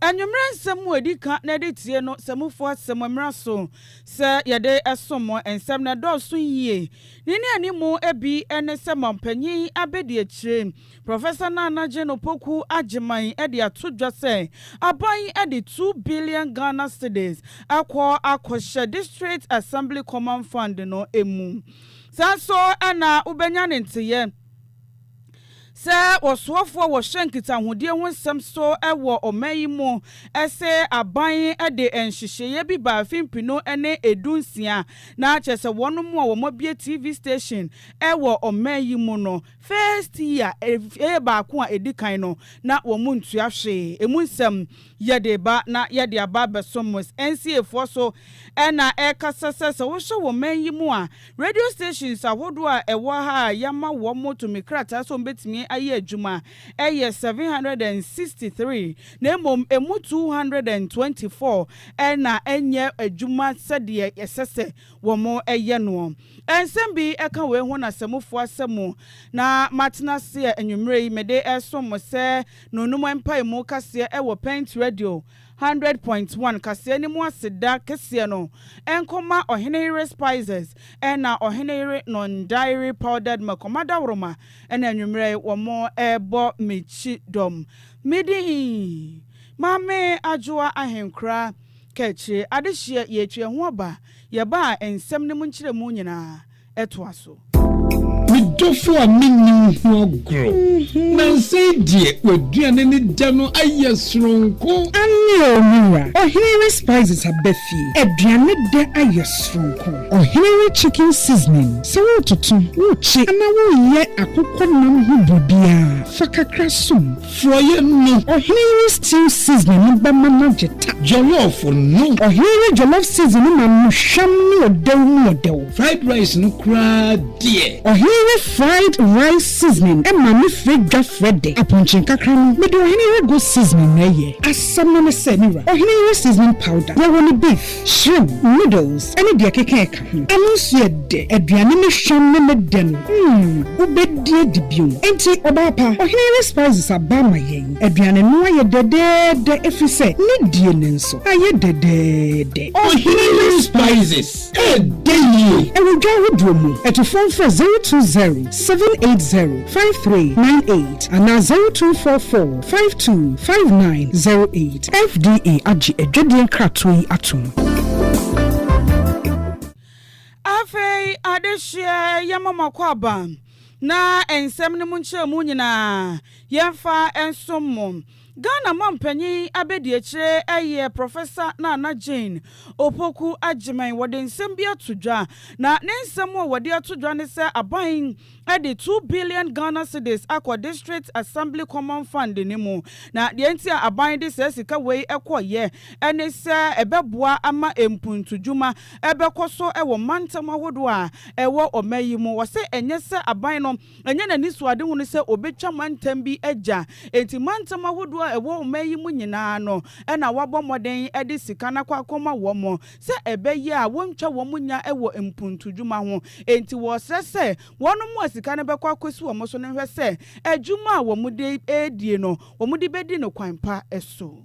Anwummerɛ nsɛm mu a ɛdi kan na ɛde tie no, sɛ mufo asɛ mo mmara so sɛ yɛde som mo, nsɛm no ɛdɔɔso yie. Ne nnianimu bi ne sɛ Manpanin Abɛdiakyire, Professor Nana Jane Opoku Agyemang de ato dwa sɛ aban de two billion Ghana cedis akɔ akɔhyɛ District Assembly Common Fund no mu. Saa nso na wobɛnya ne nteyɛ. Sɛ ɔsoafoɔ a wɔhyɛ nkitahodie ho nsɛm so wɔ ɔman yi mu se aban de nhyehyeeɛ bi baa finpino ne edu nsia na kyerɛ sɛ wɔn mo a wɔn abue TV station wɔ ɔman yi mu no first year, fee baako a ɛdi kan no na wɔn ntua hwee emu nsɛm. Yɛde reba na yɛde aba abɛso Mos nsiefoɔ so na ɛrekasa sɛ, sɛ wohyɛ wɔ man yi mu a, radio stations ahodoɔ a ɛwɔ ha a yɛama wɔn tumi krataa sɛ wɔbɛtumi ayɛ adwuma yɛ seven hundred and sixty three na mmom ɛmu two hundred and twenty four na ɛnyɛ adwuma sɛdeɛ ɛsɛ sɛ wɔyɛ noɔ. Nsɛm bi ka wei ho na sɛ mofoa sɛ mo na matena ase a anwummerɛ yi mede resom mo sɛ No no mu mpaemu kaseɛ wɔ Pint Radio hundred point one kaseɛ no mu aseda kɛseɛ no nkɔ ma Ɔhene Yere Spices ɛna Ɔhene Yere Non-Dairy Powdered Makoma Dawuroma ɛna anwummerɛ yi wɔn rebɔ me kyidɔm. Me din Maame Adwoa Ahenkora Kakyire Adehyeɛ yɛretwi ɛho aba yɛbaa nsɛm no mu nkyerɛmu nyinaa. toa so. Me dɔfo a menni wo ho agorɔ. Nansa yi deɛ w'aduane ne dɛ no ayɛ soronko. Aane o me wura. Ɔhene re spices aba fie. Aduane dɛ ayɛ soronko. Ɔhene re chicken seasoning. Sɛ woretoto, worekye anaa woreyɛ akokɔ nam ho biribiara, fa kakra som. Forɔeɛ no. Ɔhene yi stew seasoning no bɛma no agye ta. Jollof no. Ɔhene yi jollof seasoning no ma no hwam ne ɔdɛw mu ɔdɛw. Fried rice no koraa deɛ. Ɔhene yi fried rice seasoning ma no frɛ dwa frɛ dɛ. Aponkye nkakra no, mede ɔhene yi goat seasoning na ɛyɛ. Asɛm no ne sɛ, me wura, ɔhene yi seasoning powder, yɛwɔ no beef, shrimp, noodles, ne deɛ ɛkeka ɛka. Hmm. Ɛno nso yɛ dɛ. Aduane ne hwam ne ne dɛ no, hmm, wobɛdi adi bio. Enti, ɔbaa pa, Ɔhene Yere Spices aba ma yɛn. Aduane no ayɛ dɛdɛɛdɛ ɛfiri sɛ ne die no nso ayɛ dɛdɛɛdɛ. Ɔhene Yere Spices, ɛdɛ yie! Ɛwɔ dwa ahodoɔ mu. Atufoɔ mfrɛ zero two zero seven eight zero five three nine eight anaa zero two four four Five two five nine zero eight. FDA agye adwadie nkratoɔ yi atom. Afei adesua yɛ ma mo akwaaba na nsɛm no mu nkyerɛmu nyinaa yɛmfa nsom mo. Ghana mampanyin abɛdiakyire yɛ Prɔfɛsa Nana Jane Opoku Agyeman. Wɔde nsɛm bi ato dwa na ne nsɛm a wɔde ato dwa ne sɛ aban de two billion Ghana cedis akɔ District Assembly Common Fund no mu. Na deɛ nti a aban de saa sika wei kɔeɛ ne sɛ ɛbɛboa ama mpuntudwuma bɛkɔ so wɔ mantam ahodoɔ a ɛwɔ ɔman yi mu. Wɔse ɛnyɛ sɛ aban no ɛnyɛ n'anisoadehunu sɛ ɔbɛtwa mantam bi agya, enti mantam ahodoɔ a ɛwɔ ɔman yi mu nyinaa no na wɔabɔ mmɔden de sika no akɔ akɔma wɔn. sɛ ɛbɛyɛ a wɔntwa wɔn nya wɔ mpuntudwuma ho. Enti wɔsrɛ sɛ wɔnom a sika no bɛkɔ akɔsi wɔn so no nhwɛ sɛ adwuma a wɔde redie no, wɔde bɛdi no kwan pa so.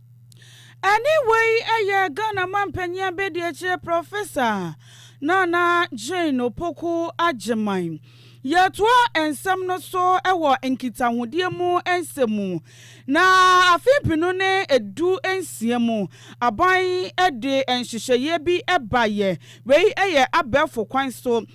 Ɛne wei yɛ Ghana Mampanyin Abadiakyire Prɔfesa Nana Jane Opoku Agyemang. Yɛtoa nsɛm no so wɔ nkitahodie mu nsɛm mu. Na afe mpenu ne du nsia mu, aban de nhyehyɛeɛ bi baeɛ. Wei yɛ abɛɛfo kwan so.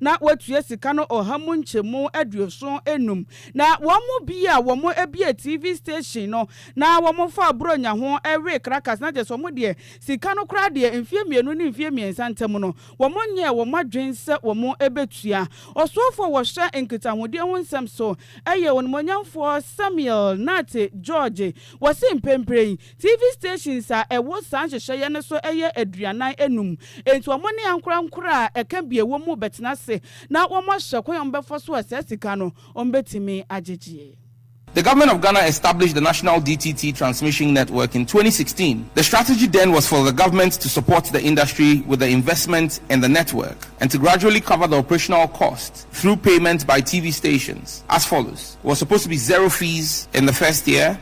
na wɔatua sika no ɔha mu nkyɛmu aduoson anum. Na wɔn mu bi a wɔbuee TV station no na wɔfaa Buronya ho wee Caracas, na gyesɛ wɔn deɛ sika no koraa deɛ mfeɛ mmienu ne mfeɛ mmiɛnsa ntam no wɔnyɛɛ wɔn adwene sɛ wɔbɛtua. Ɔsoafoɔ a wɔhwɛ nkitahodie ho nsɛm so yɛ Onimuonyamfoɔ Samuel Nate George, wɔse mprempren, TV stations a ɛwɔ saa nhyehyɛeɛ no so yɛ aduanan anum, enti wɔn ne ankorankoro a ɛka bi a ɛwɔ mu bɛtena ase na wɔahwɛ kwan a wɔbɛfa so a saa sika no wɔbɛtumi agyegyeɛ. The Government of Ghana established the National DTT Transmission Network in twenty sixteen. The strategy then was for the government to support the industry with the investment in the network and to gradually cover the operational cost through payment by TV stations as follows, was supposed to be zero fees in the first year,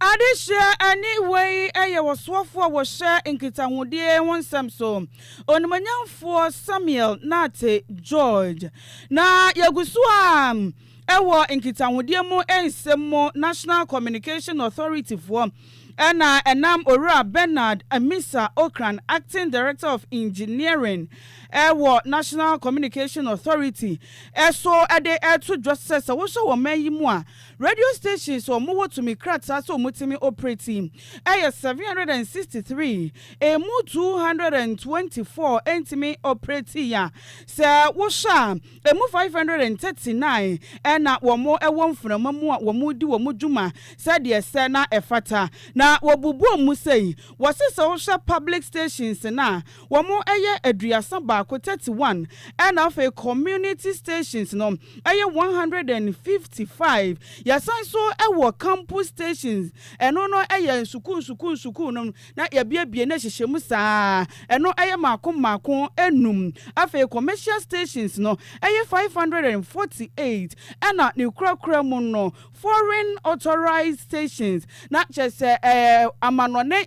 Adesua ani hwɛ yi yɛ ɔsoafo a wɔhyɛ nkitahodie ho nsɛm so, Onimonyamfoɔ Samuel Nartey George. Na yɛgu so a ɛwɔ nkitahodie mu nsɛm mu, National Communication Authority foɔ na ɛnam Owura Bernard Amisa Ocran, Acting Director of Engineering wɔ National Communication Authority so de to dwa sɛ sɛ wohwɛ wɔ man yi mu a, Radio stations a ɔmo wɔ tumi krataa sɛ ɔmo tumi operate yi ɛyɛ seven hundred and sixty three, ɛmu two hundred and twenty four ɛntumi operate yi a sɛ wo hwɛ a ɛmu five hundred and thirty nine ɛna wɔn ɛwɔ mfunama mu a wɔn di wɔn dwuma sɛdeɛ ɛsɛ na ɛfata na wɔbubu ɔmo sei. Wɔse sɛ wo hwɛ public stations no a wɔyɛ aduasa baako, thirty one, ɛna afei community stations no ɛyɛ one hundred and fifty five. Yɛsan nso wɔ campus stations, ɛno no yɛ nsukuu nsukuu nsukuu nom na yɛabuebue no ahyehyɛ mu saa ara, ɛno yɛ mmaako mmaako nnum. Afei commercial stations no ɛyɛ five hundred and forty eight, ɛna ne korakora mu no foreign authorised stations na kyerɛ sɛ ɛɛ amanɔne,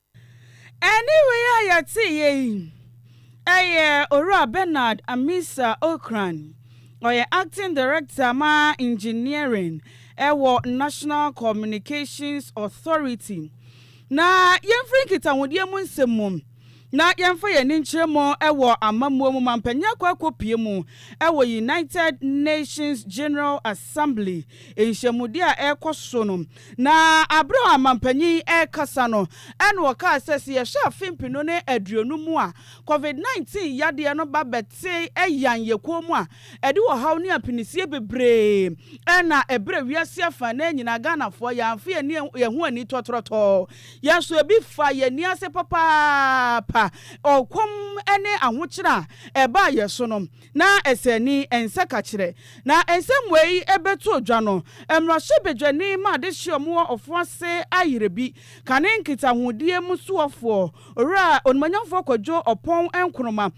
Ɛnne wei a yɛteeɛ yi yɛ Owura Bernard Amissah Ocran, ɔyɛ Acting Director ma Engineering wɔ National Communications Authority. Na yɛmfiri nkitahodeɛ mu nsɛm mu na yɛmfa yɛn ani nkyerɛ mu wɔ amammuo mu ma mpanin akɔ akɔpue mu wɔ United Nations General Assembly nhyiamudeɛ a ɛrekɔ so no Na bere a mampanyin yi rekasa no, ɛnna ɔkaa sɛ, Sɛ yɛhwɛ afe mpenu ne aduonum mu a Covid nineteen yadeɛ no ba bɛtee Yan yɛ kuo mu a, ɛde ɔhaw ne apinisie bebree na ɛbrɛ wiase afã no ara nyinaa. Ghanafoɔ, yɛamfa yɛn ani yɛn ho anni tɔtrɔtɔɔ. Yɛn nso, ebi faa yɛn ani ase papaapa, ɔkɔm ne ahokyere a ɛbaa yɛn so no. na ɛsɛnni, ɛnsɛ kakyerɛ, na ɛnsɛ mmuae ɛbɛto odwa no. Mmarahyɛbadwani ma adehyeɛ a wɔwɔ ɔfo ase ayerɛ bi kane nkitahodie mu soɔfoɔ Owura Onimonyamfoɔ Kwadwo Ɔpɔn Nkrumah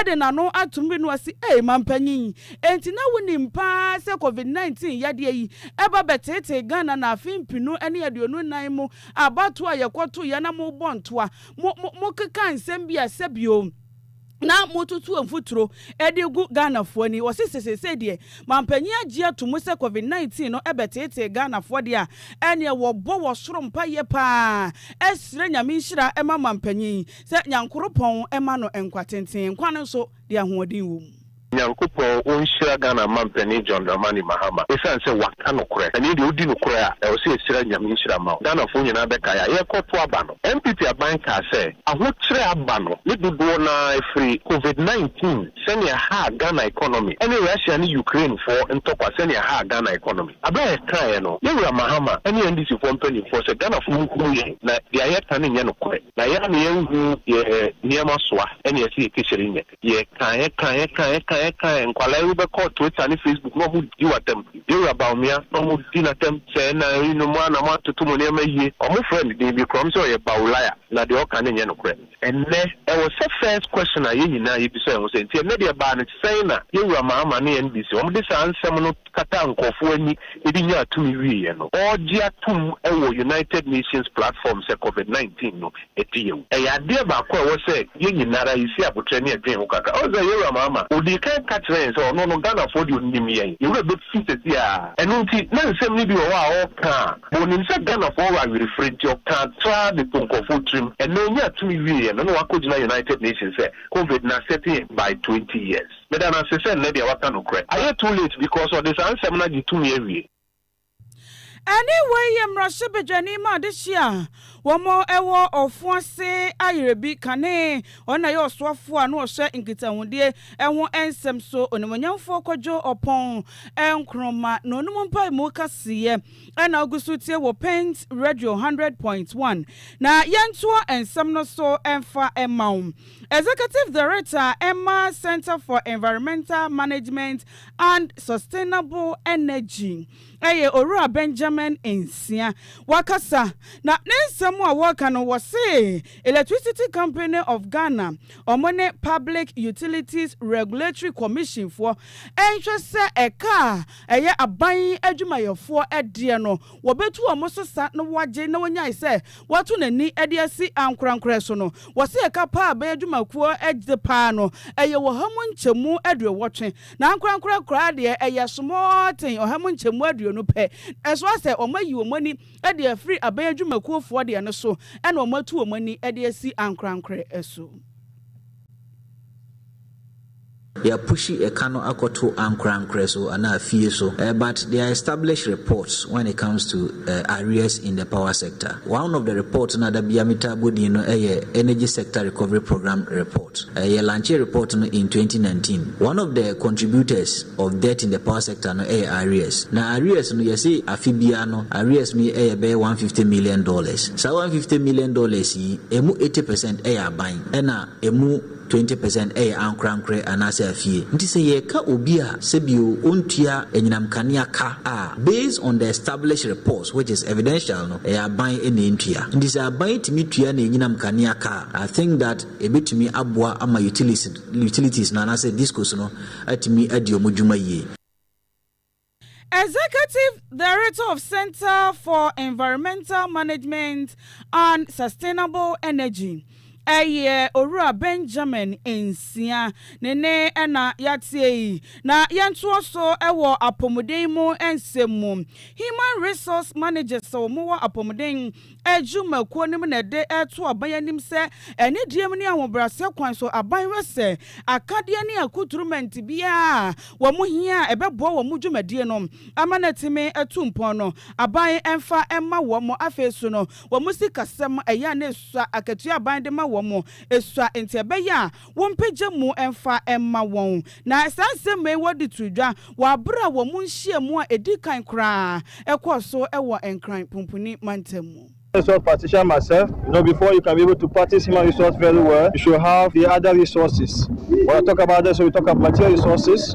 de n'ano atom renu ase Ei Mampanyin, enti na wonim paa sɛ Covid 19 yadeɛ yi ɛba bɛteetee Ghana na afe mpenu ne aduonu nnan mu abatoɔ a yɛkɔtoeɛ na mobɔ ntoa, mo, mo, mokeka nsɛm bi a sɛbio. na mototo mfuturo de gu Ghanafoɔ ani. Wɔse sɛ seesei deɛ manpanin agye ato mu sɛ Covid 19 no bɛteetee Ghanafoɔ deɛ a, ɛneɛ wɔbɔ wɔ soro mpaeɛ pa ara srɛ Nyame nhyira ma manpanin sɛ Nyankoropɔn mma no nkwa tenten, nkwa no nso deɛ ahoɔden wɔ mu. Nyankopɔn onhyira Ghana mampanin John Dramani Mahama esiane sɛ waka nokorɛ. Ɛnneɛ deɛ odi nokorɛ a ɛwɔ sɛ yɛsrɛ Nyame nhyira mma wo. Ghanafoɔ nyinaa bɛkae a yɛrekɔto aba no, NPP aban kaa sɛ ahokyerɛ aba no ne dodoɔ no ara firi Covid nineteen sɛnea ɛhaa Ghana economy ne Russia ne Ukrainefoɔ ntɔkwa sɛnea ɛhaa Ghana economy. Berɛ a yɛkaeɛ no, yɛn Wura Mahama ne NDCfoɔ mpaninfoɔ sɛ Ghanafoɔ nhunu yɛn na deɛ yɛka no nyɛ nokorɛ na yɛn ara na yɛnhu deɛ nneɛma soa ɛnneɛ ɛsɛ yɛkɛhyɛre nyɛ. Yɛka, yɛka, yɛka, yɛka, yɛka, nkwadaa yi wobɛkɔ Twitter ne Facebook na wɔn di w'atɛm. Yɛwura Bawumia na wɔn di n'atɛm sɛ ɛna yi nom a na mo atoto mo nneɛma yie. Wɔn frɛ no din bi koraa, wɔn se ɔyɛ Bawulaya na deɛ ɔka no nyɛ nokorɛ. Ɛnnɛ ɛwɔ sɛ first question a yɛn nyinaa yɛbisa yɛn ho sɛ nti ɛnnɛ deɛ ɛbaa no sɛn na Yɛwura Mahama ne NBC wɔn de saa nsɛm no kataa nkurɔfo ani de nyaa tumi wieeɛ no, ɔregye atom wɔ United Nations platform sɛ Covid nineteen no adi yawu. Ɛyɛ adeɛ baako a ɛwɔ sɛ yɛn nyina ara yɛsi aboterɛ ne yɛdwen ho kakra. Ɔsɛ sɛ Yowura Mahama ɔdii kan ka kyerɛɛ yɛn sɛ ɔno no Ghanafoɔ deɛ ɔnim yɛn, Yowura bɛfiri sɛsi ara. Ɛno nti na nsɛm no bi wɔ hɔ a ɔreka a na ɔnim sɛ Ghanafoɔ wɔ awerefire nti ɔkaa traa de too nkurɔfoɔ tirim. Ɛnɛ ɔnyaa tumi wieeɛ no na wakɔgyina United Nations sɛ Covid no asɛte yɛn by twenty years. Meda no ase sɛ nnɛ deɛ waka nokorɛ. Ayɛ too late because ɔde saa nsɛm no agye tumi awie. Ɛne wei yɛ mmarahyɛ badwani ma adehye a wɔn wɔ ɔfo ase ayerɛbi kane. Ɔno na ɛyɛ ɔsoafoɔ a na ɔhwɛ nkitahodie ho nsɛm so. Onimuonyamfoɔ Kwadwo Ɔpɔn Nkrumah na ɔnom mpaemu kaseɛ na wogu so tie wɔ Paint Radio hundred point one. Na yɛntoa nsɛm no so mfa mma wo. Executive Director a ɛma Centre for Environmental Management and Sustainable Energy yɛ Owura Benjamin Nsia. Wakasa, na ne nsɛm a wɔka no wɔse Electricity Company of Ghana wɔn ne Public Utilities Regulatory Commission foɔ nhwɛ sɛ ɛka a ɛyɛ aban adwumayɛfoɔ deɛ no wɔbɛtu wɔn so sa na wɔagye na wɔnyae sɛ wato n'ani de asi ankorankorɛ so no, wɔse ɛka pa a bɛyɛ dwumakuo de pa ara no, ɛyɛ ɔha mu nkyɛmu aduowɔtwe. Na ankorankorɛ koraa deɛ, ɛyɛ small thing, ɔha mu nkyɛmu aduonu pɛ. Ɛso ara sɛ, wɔayi wɔn ani de afiri aban adwumakuofoɔ deɛ no so, ɛna wɔatu wɔn ani de asi ankorankorɛ so. Yɛ pushi ɛka no akɔto ankorankorɛ so anaa fie so but there are established reports when it comes to arrears in the power sector. One of the report no a da biara me taa bɔ din no yɛ energy sector recovery program report. Yɛ lankyee report no in twenty nineteen. One of the contributors of debt in the power sector no yɛ arrears. Na arrears no yɛ se afe biara no arrears no yɛ bɛyɛ one fifty million dollars. Saa one fifty million dollars yi ɛmu eighty percent yɛ aban. ɛna ɛmu twenty percent yɛ ankorankorɛ anaasɛ afie. Nti sɛ yɛreka obi a sɛbio ɔntua anyinam kanea ka a, based on the established reports which is evidential no, ɛyɛ aban na ɛntua. Nti sɛ aban tumi tua no anyinam kanea ka a, I think that ɛbɛtumi aboa ama utilities no anaasɛ discos no atumi adi wɔn dwuma yie. Executive Director of Centre for Environmental Management and Sustainable Energy yɛ Owura Benjamin Nsia ne nne na yɛatie yi. Na yɛntoa so wɔ apɔmuden mu nsɛm mu. Human Resource Managers a wɔwɔ apɔmuden adwumakuo no mu na ɛde reto aban anim sɛ anidie mu ne ahobrɛaseɛ kwan so aban hwɛ sɛ akadeɛ ne akuturumɛnte biara a wɔn hia a ɛbɛboa wɔn dwumadie no ama no atumi atu mpɔn no aban mfa mma wɔn. Afei nso no wɔn sikasɛm ɛyɛ a na ɛsua akatua a aban de ma wɔn sua nti ɛbɛyɛ a wɔmpagya mu mfa mma wɔn. Na saa nsɛmma yi wɔde too dwa wɔ bere a wɔn nhyiam a edi kan koraa kɔɔ so wɔ Nkran Pumpuni Mantam mu. Resource partition myself, you know before you can be able to practice human resource very well you should have the other resources, when I talk about that so we talk about material resources,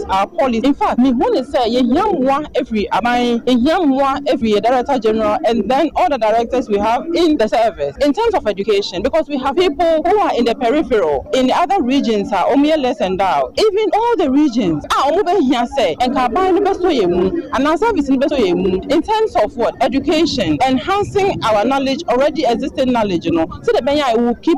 That's our policy. In fact, mehu ne sɛ yɛhia mmoa firi aban, yɛhia mmoa firi yɛ Director General and then all the directors we have in the service in terms of education because we have people who are in the peripheral, in the other regions a wɔyɛ less endowed, even all the regions a wɔbɛhia sɛ nka aban no bɛsɔ yɛn mu anaa service no bɛsɔ yɛn mu in terms of what? Education, enhancing our knowledge, already existing knowledge no sɛdeɛ ɛbɛyɛ a it will keep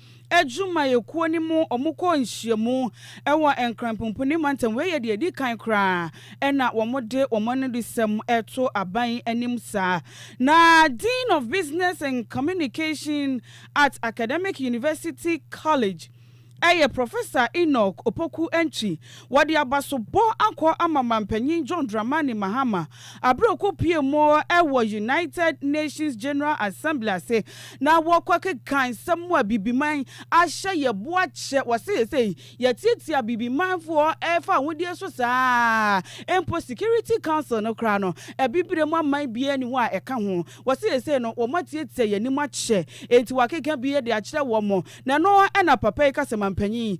adwumayɛkuo no mu, wɔkɔɔ nhyiamu wɔ Nkran Punpuni Mantam, wei yɛ deɛ ɛdi kan koraa ɛna wɔde wɔn anodisɛm reto aban anim saa. Na Dean of Business and Communication at Academic University College yɛ Professor Enoch Opoku Antwi, Wɔde abasobɔ akɔ ama Mampanyin John Dramani Mahama aber a okopuee mu wɔ United Nations General Assembly ase na wɔkɔ akekã nsɛm mu a Bibiman ahyɛ yɛ bo akyɛ. Wɔse sesei yɛatsiatsia Bibimanfoɔ fa ahodie so saa a mpo Security Council no koraa no Abibire mu aman biara nni hɔ a ɛka ho. Wɔse sesei no wɔatsiatsia yɛn anim akyɛ ntsi wɔakekã bi de akyerɛ wɔn na ɛno na papa yi ka sɛ Mampanyin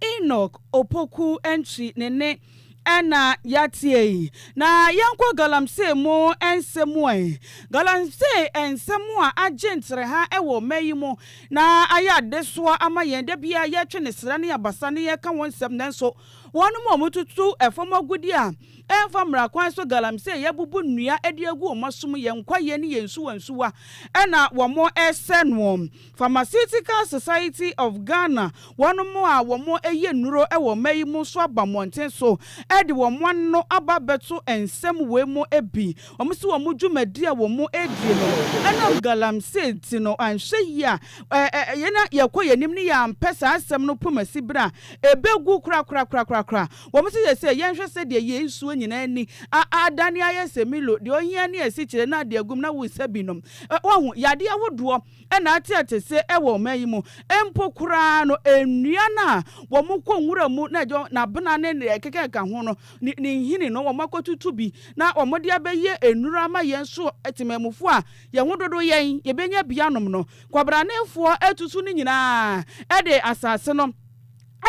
Enoch Opoku Antwi ne nne na yɛateɛ yi. Na yɛnkɔ galamsey mu nsɛm mu ɛ. Galamsey nsɛm a agye ntereha wɔ mmɛ yi mu na ayɛ adesoa ama yɛn. Da biara yɛtwe ne sra ne abasa na yɛka ho nsɛm nanso wɔnom a wɔtutu fam agudeɛ a ɛmfa mmara kwan so, galamsey, yɛabubu nnua de agu wɔn asom, yɛn kwaeɛ ne yɛn nsuwansuwa na wɔsɛe noɔ. Pharmaceutical Society of Ghana, wɔnom a wɔn yɛ nnuro wɔ mma yi mu nso aba mmɔnten so de wɔn ano aba bɛto nsɛm wei mu bi. Wɔn se wɔn dwumadi a wɔn redie no ɛnam galamsey nti no anhwɛ yie a yɛn a yɛkɔ yɛn anim no yɛ ampɛ saa asɛm no pomasi berɛ a ɛbɛgu korakorakorakorakora. Wɔn se sɛsɛ yɛnhwɛ sɛdeɛ yei nsuo nyinaa ani adane ayɛ sɛ Milo, deɛ ɔhia ne asikyire na ade agum na wosa binom. Wahu, yadeɛ ahodoɔ. na ateɛte se wɔ ɔman yi mu mpo koraa no, nnua no a wɔkɔ nwura mu na ɛyɛ abena ne nea ɛkekeka ho no, ne nhini no, wɔakɔtutu bi na wɔde abɛyɛ nnuru ama yɛn so temamufo a yɛn ho dodo yɛn, yɛbɛnya bi anom no. Kwabranefoɔ atutu ne nyinaa de asase no.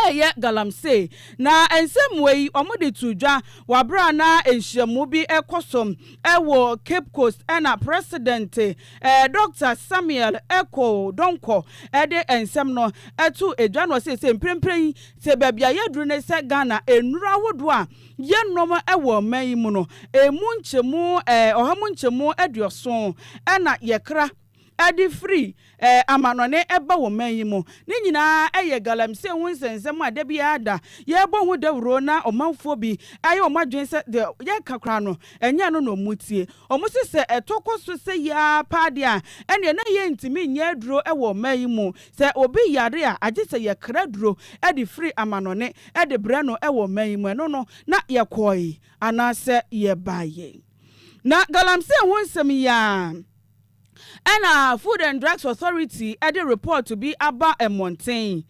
reyɛ galamsey, na nsɛmmoa yi wɔde too dwa wɔ bere a na nhyiamu bi rekɔ so wɔ Cape Coast na President Dɔkta Samuel Ekow Donkor de nsɛm no too dwa na ɔsee sɛ mprempren yi sɛ baabi a yɛaduru ne sɛ Ghana nnuru ahodoɔ a yɛnom wɔ ɔman yi mu no emu nkyɛmu ɔha mu nkyɛmu aduɔson na yɛkra de firi amannɔne ba wɔ man yi mu. Ne nyinaa yɛ galamsey ho nsɛnsɛm a da biara da yɛbɔ ho dawuro na ɔmanfoɔ bi ayɛ wɔn adwene sɛ deɛ yɛka koraa no ɛnyɛ ɛno na wɔn tie. Wɔn se sɛ ɛtɔ kɔ so sɛ yi ara paa deɛ a ɛneɛ na yɛn ntumi nyɛ aduro wɔ ɔman yi mu. Sɛ obi yare a agye sɛ yɛkra duro de firi amannɔne de brɛ no wɔ ɔman yi mu. Ɛno no na yɛkɔɔe anaasɛ yɛbaeɛ. Na galamsey ho nsɛm yi ara. Ɛnna Food and Drugs Authority de repɔɔto bi aba mmɔnten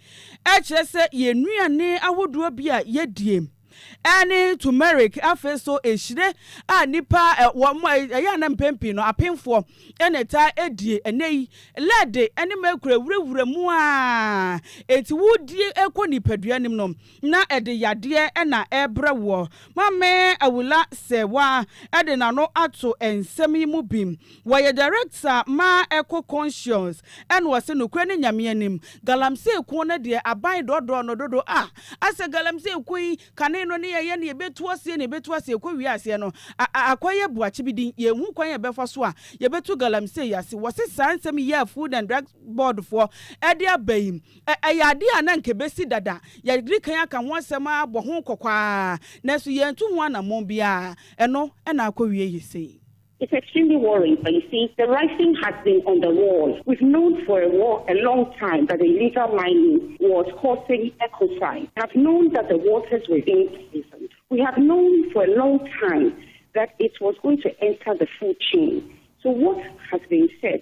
kyerɛ sɛ yɛn nnuane ahodoɔ bi a yɛdie ne turmeric, afei nso ehyire a nnipa wɔn ɛyɛ a na mpɛn pii no apemfoɔ na ɛtaa die. Ɛnɛ yi, lɛɛde ne mɛkura wurawura mu a enti wodie kɔ nipadua nim no, na ɛde yadeɛ na ɛrebrɛ woɔ. Maame Awula Serwa de n'ano ato nsɛm yi mu bi. Ɔyɛ Director ma Eco Conscious ɛna ɔse nokorɛ ne Nyame anim, Galamsey kuo no deɛ aban dɔɔdɔɔ no dodo a, asɛ Galamsey kuo yi kane no ne ɛyɛ neɛ ɛbɛtu aseɛ neɛ ɛbɛtu aseɛ ɛkɔ wie aseɛ no a akɔ yɛ boakye bi din, yɛnhu kwan a yɛbɛfa so a yɛbɛtu Galamsey ase. Wɔse saa nsɛm yi a Food and Drug Board foɔ de aba yi, Ɛyɛ ade a na anka ebesi dada. Yɛadi kan aka ho asɛm ara abɔ ho kɔkɔ ara, nanso yɛantu ho anammɔn biara. Ɛno na akowiei sei. It's extremely worrying but you see the writing has been on the wall, we've known for a war a long time that the illegal mining was causing ecocide, we have known that the waters were being poisoned, we have known for a long time that it was going to enter the food chain, so what has been said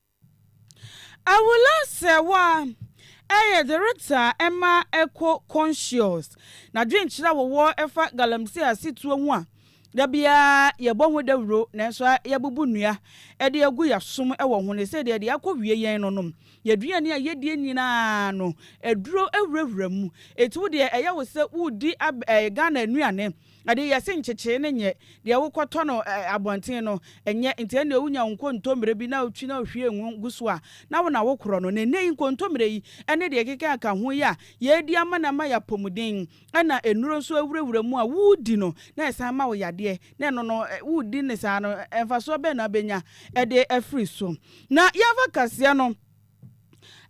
Awolansɛewa yɛ dze retsa ma Eko Conscious n'adwenkyerɛ a wɔwɔ fa galamsey asetuo ho a da biara yɛbɔ ho dawuro nanso ara yɛabubu nnua de agu yɛasom wɔ ho ne sɛ deɛ ɛde akɔwie yɛn no nom yɛn aduane a yɛdie nyinaa no aduro wurawura mu. Enti wo deɛ ɛyɛ wo sɛ woredi ab ɛɛ Ghana nnuane. Ɛnde, yɛse nkyekyee no nyɛ deɛ wokɔtɔ no abɔnten no, ɛnyɛ, enti ɛnneɛ wonya wo nkontommire bi na wotwi na wohwie ngo gu so a, na wo na wokorɔ no. Na ɛnnɛ yi nkontommire yi ne deɛ ɛkeka ɛka ho yi a yɛredi ama no ama yɛ apɔmuden, ɛna nnuro nso awurawura mu a woredi no na ɛsan ma wo yadeɛ, na ɛno no woredi no saa no mfasoɔ bɛn na wobɛnya de afiri so? Na yɛmfa kaseɛ no.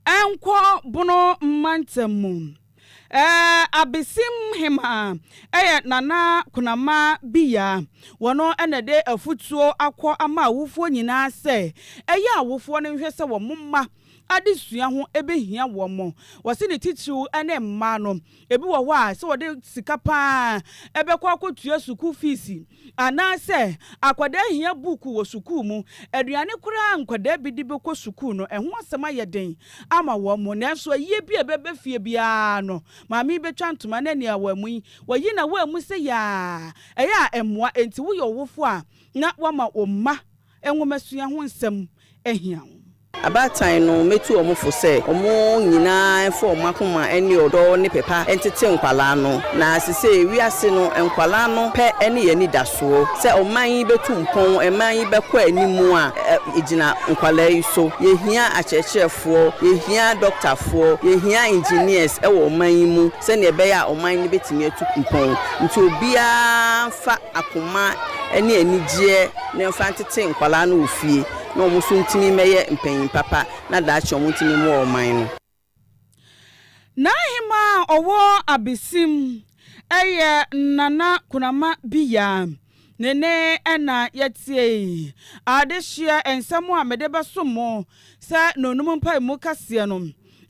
ɛnkɔ bono mantam mu. Ɛɛ Abesim hema ɛyɛ Nana Kunama bia. Wɔno na ɛde afutuo akɔ ama awofoɔ nyinaa sɛ ɛyɛ awofoɔ no nhwɛ sɛ wɔn mma adesua ho ɛbɛhia wɔn. Wɔse ne titiriw ne mmaa no. Ɛbi wɔ hɔ a sɛ wɔde sika paa ɛbɛkɔ akɔtua sukuu fiisi. Anaasɛ akwadaa hia buuku wɔ sukuu mu. Aduane koraa a nkwadaa bi de bɛkɔ sukuu no, ɛho asɛm ayɛ den ama wɔn. Nanso ayie bi a ɛbɛba fie biara no, maame yi bɛtwa ntoma na nea wammu yi, wayi na wammu sɛ yaa. Ɛyɛ a ɛmmoa. Enti woyɛ ɔwofoɔ a, na woama wo mma nwomasua ho nsɛm ahia wo. Abaatan no, mɛtu wɔn fo sɛ wɔn nyina ara mfa wɔn akoma ne ɔdɔ ne pɛ pa ntete nkwadaa no. Na sesei wiase no, nkwadaa no pɛ ne yɛn anidasoɔ. Sɛ ɔman yi bɛtu mpɔn, ɛman yi bɛkɔ anim a, ɛgyina nkwadaa yi so. Yɛhia akyerɛkyerɛfoɔ, yɛhia dɔktafoɔ, yɛhia engineers wɔ ɔman yi mu sɛdeɛ ɛbɛyɛ a ɔman no bɛtumi atu mpɔn. Nti obiara mfa. akoma ne anigyeɛ na yɛmfa ntete nkwadaa no wɔ fie na wɔn nso ntumi mmɛyɛ mpanyin papa na daakye wɔn ntumi mmoa ɔman no. N'ahemaa a ɔwɔ Abesim yɛ Nana Kunama Biya ne ne na yɛteɛ yi. Adehyeɛ nsɛm a mede bɛsom mo sɛ Nonum mpaemu kaseɛ no.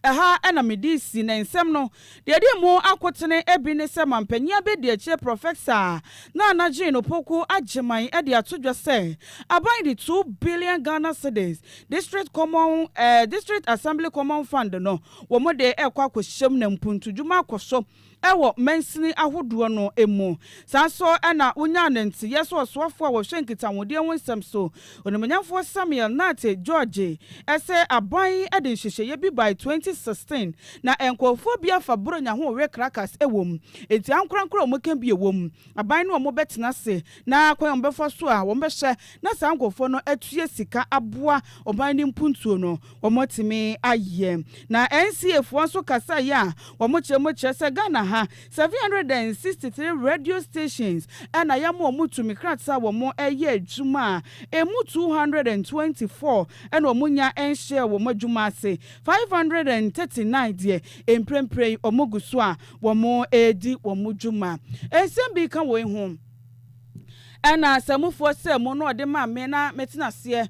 Ɛha na mede si ne nsɛm no. Deɛ ɛde mu akotene bi ne sɛ mampanyin abɛdiakyire prɔfɛsa Nana Jane Opoku Agyemang de ato dwa sɛ aban de two billion Ghana cedis, District Common, eh, District Assembly Common Fund no, wɔn de rekɔ akɔhyem na mpuntudwuma akɔ so. wɔ mansini ahodoɔ no mu. Saa nso na wonyaa no nteyɛ sɛ ɔsoafoɔ a wɔhwɛ nkitahodeɛ ho nsɛm so, Onimuonyamfoɔ Samuel Nartey George, sɛ aban de nhyehyɛeɛ bi bae 2016 na nkorɔfoɔ bi afa Buronya ho wɔ Caracas wɔ mu, enti ankorankoro a wɔka bi wɔ mu, aban ne wɔn bɛtena ase Na kwan a wɔbɛfa so a wɔbɛhyɛ na saa nkurɔfoɔ no atua sika aboa ɔman no mpuntuo no, wɔatumi ayɛ. Na NCA foɔ nso kasaeɛ a wɔkyerɛ mu kyerɛ sɛ Ghana ha, 763 radio stations na yɛama wɔn tumi krataa a wɔyɛ adwuma a ɛmu 224 na wɔnya nhyɛɛ wɔn adwuma ase, 539 deɛ mprempren wɔgu so a wɔredi wɔn dwuma. Nsɛm bi ka woi ho, Ɛna Asamufoɔ sɛ mo na ɔde maa me na metena aseɛ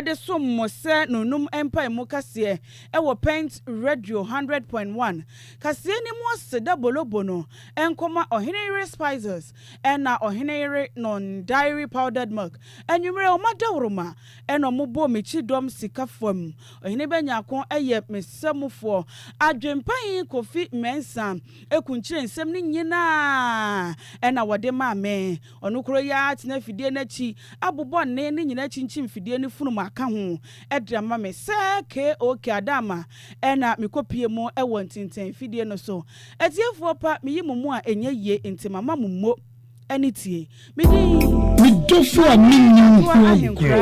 de som mo sɛ nonum mpaemu kaseɛ wɔ Pent Radio hundred point one. Kaseɛ no mu ɔse da bolobo no nkɔma ɔhene yere Spices ɛna ɔhene yere nom dairy powdered milk. Anwummerɛ ɔma dawuroma. ɛna ɔmo bɔɔ me kyidɔm sika fam. Ɔhene Bɛnyako yɛ me samufoɔ. Adwempanyin Kofi Mensah akunkyire nsɛm no nyinaa ɛna wɔde maa me. Ɔno koro yi ara tena afidie no akyi abobɔ nne no nyinaa kyinkyim fidie no funu mu aka ho de ama me. Sɛ KOK Adama ɛna me kɔ pie mu wɔ ntintɛn fidie no so. Atiefoɔ pa me yi mo mu a ɛnyɛ yie nti mama mo mo ani tie. Me din. Me dɔfo a mennim ho agorɔ.